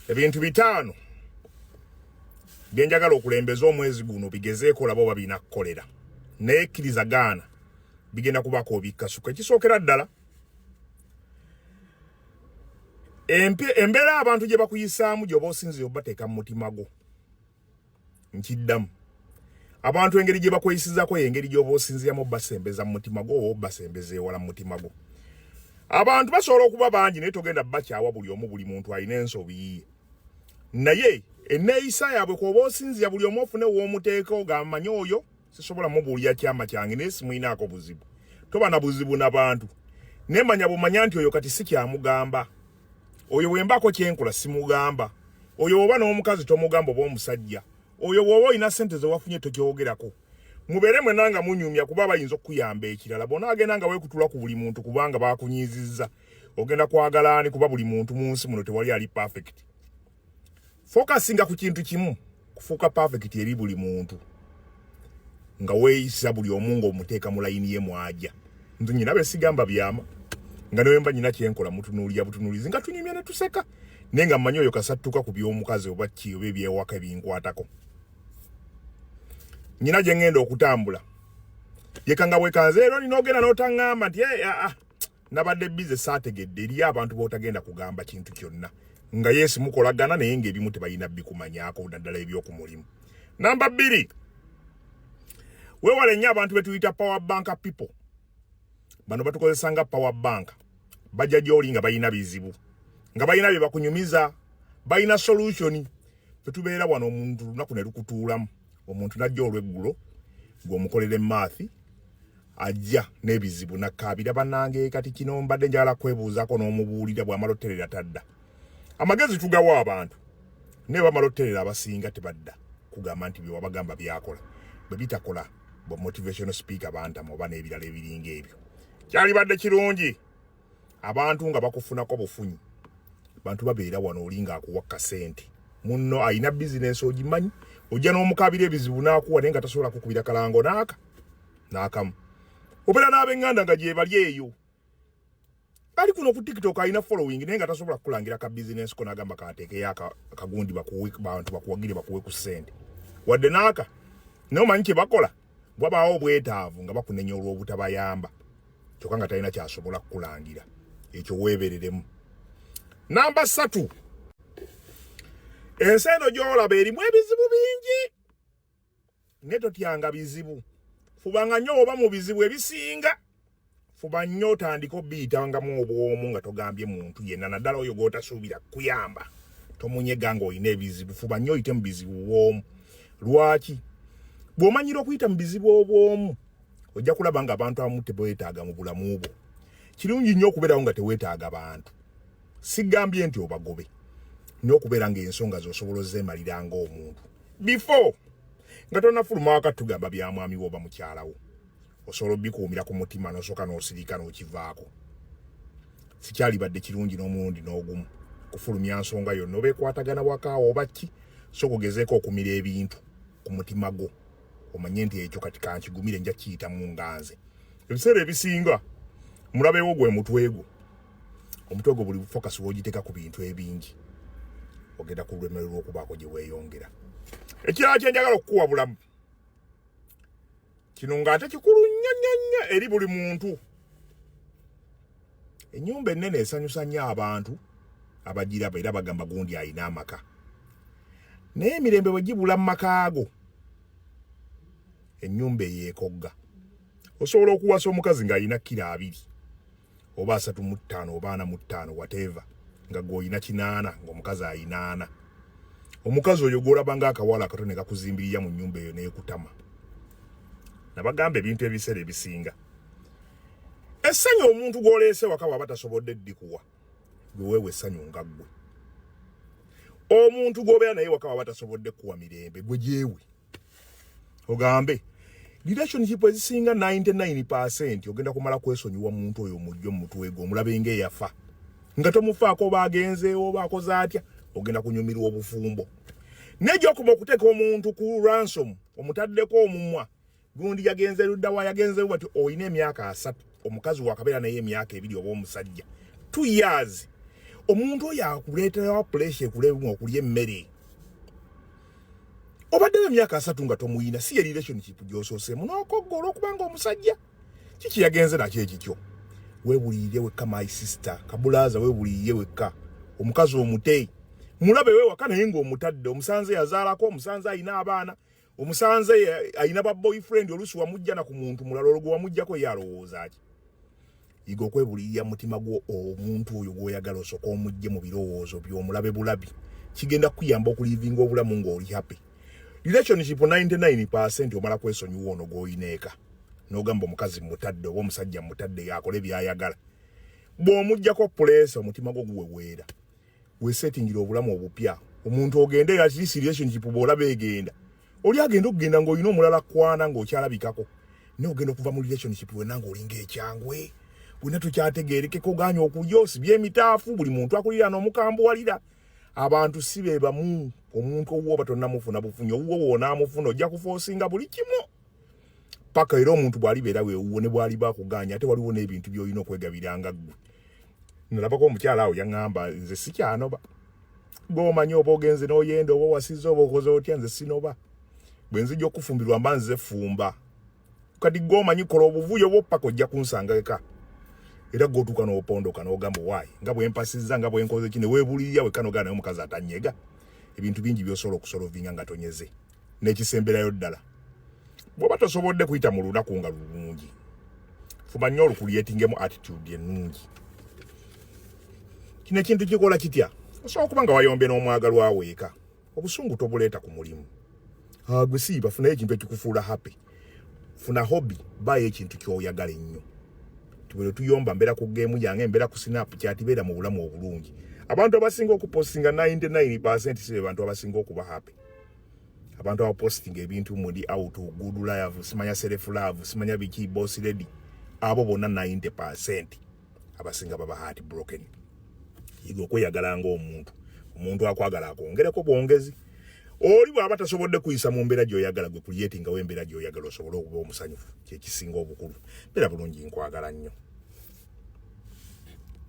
ebintu bitaano byenjagala okulembeza omwezi guno bigezeeko olaba oba birina kukolera naye kkiriza gaana bigenda kubaako obikkasuka ekisookera ddala embeera abantu gye bakuyisaamu gyoba osinzire obateeka mu mutima gwo nkiddamu abantu engeri gye bakweyisizako yengeri gy'oba osinziramu obasembeza mu mutima gwo oba obasembeza ewala mu mutima gwo abantu basobola okuba bangi naye togenda bakyawa buli omu buli muntu alina ensobi yiye naye eneeyisa yaabwe kwoba osinzira buli omu ofune woomuteeka ogamanyi oyo sisobola mubuulira kyama kyange naye simuyinaako buzibu toba na buzibu na bantu nemanya bumanya nti oyo kati si kyamugamba oyo wembako kyenkola simugamba oyo woba n'omukazi tomugamba oba omusajja oyo woba olina sente zewafunye tokyogerako mubeere mwena nga munyumya kuba bayinza okukuyamba ekirala bona agenda nga wekutula ku buli muntu kubanga bakunyiizizza ogenda kwagala ani kuba buli muntu mu nsi muno tewali ali perfect focusinga ku kintu kimu kufuuka perfect eri buli muntu nga weeyisa buli omu ng'omuteeka mu layini ye mwaja nze nyina be sigamba byama nga newe mba nyina kyenkola mutunuulira butunuulizi nga tunyumya ne tuseka naye nga mmanyi oyo kasattuka ku by'omukazi oba ki oba ebyewaka ebinkwatako nyina gye ŋŋenda okutambula yeka nga bwekanze leero nina ogenda n'otaŋŋamba nti eh, ah, ah. nabadde bize saategedde eriyo abantu botagenda kugamba kintu kyonna nga yesu mukolagana naye ngaebimu tebalina bikumanyako naddala ebyokumulimu namba bbiri wewale nnyo abantu betuyita power bank people bano batukozesa nga power bank bajja gyoli nga balina bizibu nga balina bye bakunyumiza balina solutioni fetubeera wano omuntu lunaku ne lukutuulamu omuntu najja olweggulo ng'omukolera emaathi ajja n'ebizibu nakkaabira banange kati kino mbadde njagala kwebuuzaako n'omubuulira bw'amala oterera tadda amagezi tugawa abantu naye bamala oterera abasinga tebadda kugamba nti byewabagamba byakola bwe bitakola bwe motivational speaker bantama oba n'ebirala ebiringa ebyo kyalibadde kirungi abantu nga bakufunako bufunyi bantu babeera wano oli ng'akuwa kasente munno alina bizinensi ogimanyi ojja n'omukabira ebizibu n'akuwa naye nga tasobola kukubira kalango naaka n'akamu obeera n'abenganda nga gyebali eyo ali kuno ku tiktok alina following naye nga tasobola kukulangira ka bizinensi ko n'agamba kateekeyo akagundi bakuwe bantu bakuwagire bakuwe ku ssente wadde naaka naye omanyi kye bakola wabaawo obwetaavu nga bakunenya olw'obutabayamba kyokka nga talina kyasobola kukulangira ekyo weebereremu namba ssatu ensi eno gy'olaba erimu ebizibu bingi naye totyanga bizibu fubanga nnyo oba mu bizibu ebisinga fuba nnyo otandika obiyitangamu obwomu nga togambye muntu yenna naddala oyo gwotasuubira kuyamba tomunyega nga olina ebizibu fuba nnyo oyite mu bizibu bwomu lwaki bw'omanyira okuyita mu bizibu obwomu ojja kulaba nga abantu abamu tebwetaaga mu bulamu bwo kirungi nnyo okubeerawo nga tewetaaga bantu sigambye nti obagobe nnyo okubeera ngaensonga zosobola ozeemalira ngaomuntu before nga tonafuluma wakati tugamba bya mwami wo oba mukyalawo osobola obikuumira ku mutima nosooka n'osirika n'okivaako sikyalibadde kirungi n'omulundi n'ogumu kufulumya nsonga yonna oba ekwatagana wakaawo oba ki so kugezeeko okumira ebintu ku mutima gwo omanye nti ekyo kati kankigumire nja kiyitamu nga nze ebiseera ebisinga mulabewo gwe mutwe gwo omutwe gwo buli fokasi wogiteeka ku bintu ebingi ogenda ku lwemererwa okubaako gye weeyongera ekirala kyenjagala okukuwa bulamu kino ng'ate kikulu nnyo nnyo nnyo eri buli muntu ennyumba ennene esanyusa nnyo abantu abagiraba era bagamba gundi alina amaka naye emirembe bwe gibula mu maka ago ennyumba eyeekogga osobola okuwasa omukazi ng'alina kkiro abiri oba asatu mu ttaano oba ana mu ttaano wateeva nga gweolina kinaana ngaomukazi ayinaana omukazi oyo gwolaba nga akawala akato ne kakuzimbirira mu nyumba eyo nekutama nabagamba ebintu ebiseera ebisinga essanyu omuntu gwoleese waka waba tasobodde ddikuwa gweweewa essanyu nga ggwe omuntu gwobeera naye waka waba tasobodde kuwa mirembe gwe gyewe ogambe relationship ezisinga 99% ogenda kumala kwesonyiwa muntu oyo mujjo mutwego omulabe nge yafa nga tomufaako bagenzeewo bakoze atya ogenda kunyumirwa obufumbo nejo okuba okuteeka omuntu ku ransom omutaddeko omumwa gundi yagenze luddawa yagenzewo bati olina emyaka asatu omukazi wakabeera naye emyaka ebiri oba omusajja t years omuntu oyo akuleeterawa puleesha ekulemu okulya emmere obaddewo emyaka asatu nga tomuyina si ye relationship gyososeemu nokogga olwokubanga omusajja kiki yagenze nakyo ekikyo webuliire wekka my sister kabulaaza webuliire wekka omukazi omute mulabe wewaka naye ngaomutadde omusanze yazaalako omusanze alina abaana omusanze alina ba boyfriend olusi wamujjana ku muntu mulala olwo gwewamujjako ye alowooza ki yiga okwebulirira mutima gwo omuntu oyo gwoyagala osoka omujje mu birowoozo byomulabe bulabi kigenda kukuyamba okulivinga obulamu ngaoli happy relationship 99 percent omala kwesonyiwa ono gwoyineeka nogamba omukazi mutadde oba omusajja mutadde yakole byayagala bwomujjako puleesa omutima gwo guweweera wesetingira obulamu obupya omuntu ogende at least relationship bola begenda oli agenda okugenda ng'olina omulala kwana ng'okyalabikako naye ogenda okuva mu relationship wena ng'olinga ekyangwe wena tukyategerekeko oganya okulya osibye emitaafu buli muntu akulira n'omukambuwalira abantu si be bamu omuntu owuwo batonamufuna bufunyi owuwo wonaamufuna ojja kufoosinga buli kimu paka era omuntu bwalibeera wewuwo ne bwaliba akuganya ate waliwo n'ebintu by'olina okwegabiranga ggwe nalabako omukyala awo yaŋŋamba nze sikyanoba gwomanyi oba ogenze n'oyenda oba wasiza oba okoze otya nze sinoba bwe nzija okufumbirwa mba nze fumba kati gwomanyi kola obuvuyo bwoppaka ojja kunsanga eka era gwotuuka n'opondoka n'ogamba owaayi nga bwempasizza nga bwenkoze ki newebulirira wekanogaa naye omukazi atanyega ebintu bingi byosobola okusolovinga nga tonyeze n'ekisemberayo ddala bw'oba tosobodde kuyita mu lunaku nga lulungi fuba nnyo olukulyetingemu attitude ennungi kino ekintu kikola kitya osobola okuba nga wayombe n'omwagalwa weeka obusungu tobuleeta ku mulimu ah, gwe siiba funayo ekintu ekikufuula happy funa hobby baayo ekintu kyoyagala ennyo tubere tuyomba mbeera ku geemu yange mbeera ku sinapu kyatibeera mu bulamu obulungi abantu abasinga okupostinga 99 si be bantu abasinga okuba happy abantu abaposting ebintu muli out good love simanya self love simanya biki boss lady abo bona 90% abasinga baba heart broken yiga okweyagala nga omuntu omuntu akwagala akwongereko bwongezi oli bwaba tasobodde kuyisa mu mbeera gyoyagala gwe kuyetingawo embeera gyoyagala osobole okuba omusanyufu kyekisinga obukulu mbeera bulungi nkwagala nnyo